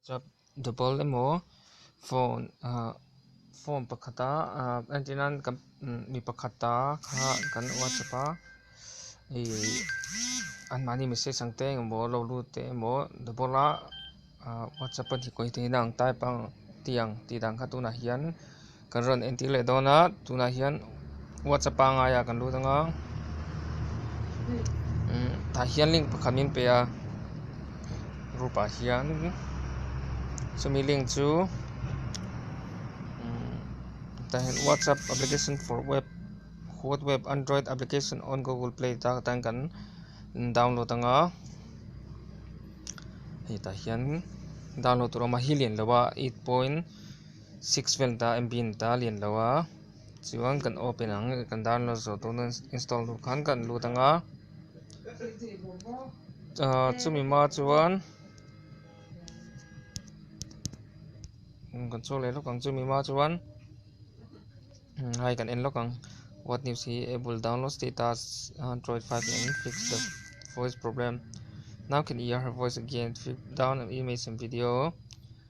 Whatsapp double emaw phone ah phone pakhat a entir nan kan mi pakhat ta kha kan whatsapp a i anmahni message ang te eng emaw lo lut te emaw double a whatsapp a hnikawih theihna ang type ang tih ang tih dan kha tunah hian Kan rawn entir leh dawn a, tunah hian WhatsApp a ngai a kan lut anga, umm tah hian link pakhat min pe a, group ah hian chumi link chu umm tah hian WhatsApp application for web hot web android application on Google play tah hian kan download anga, hetah hian download tur a awm a helian loh a eight point. Six vel ta MB in ta lian lo a, chuan kan open ang e, kan download zo tu na install tur khan kan lut anga, ah chumi hma chuan kan chhuak leh lawk ang chumi hma chuan hei kan en lawk ang what news hi apple download status android five in fix the voice problem now can hear her voice again fix down image and video.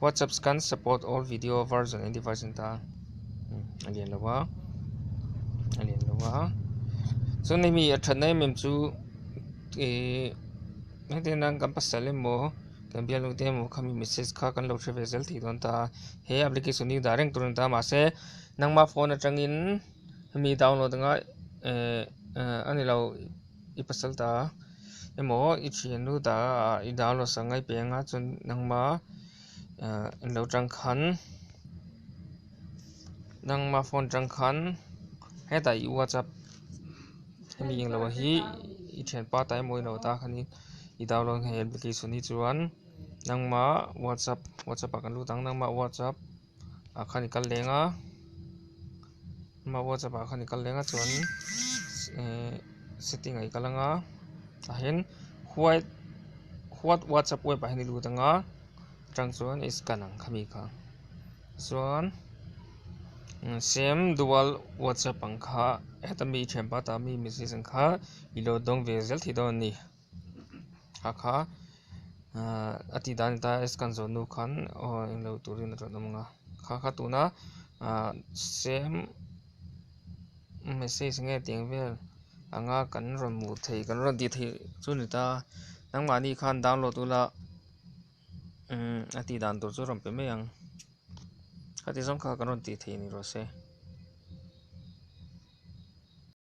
WhatsApp scan support all video version and device in ta a lian lo a a lian lo a so nei mi a that nai mem chu e nang te nang kan pasal emaw kan bial lo te emaw khami message kha kan lo hrevel zel thei don ta he application hi dah reng tur an ta ma se nangma phone atangin hemi download anga e ani lo I pasal ta emaw i thiannu ta ah i dah lawsa ngai peng a, chuan nangma in lo tang khan, nangma phone tang khan hetah i whatsapp hemi englo hi i thianpa ta emaw i lo ta khan in i dah lawsa ngai application hi chuan nangma whatsapp, whatsapp ah kan lut ang, nangma whatsapp. ah khan i kal leng a amah whatsapp ah khan i kal leng a chuan ehh setting ah i kal ang a tah hian white what whatsapp web ah hian i lut ang a chutang chuan i scan ang khami kha chuan sem dual whatsapp ang kha heta mi thianpa ta mi message ang kha i load dawng ve zel thei dawn a ni. a kha a tih dan ata a scan zawh nu khan aw englo turin a rawn awm ang a kha kha tuna ah same message nge ti ang vel ang a kan rawn hmuh theih kan rawn tih theih chu a ni ta nangmah ni khan download ula umm a tih dan tur chu a rawn pe mai ang khati zawng kha kan rawn tih theih a ni rose.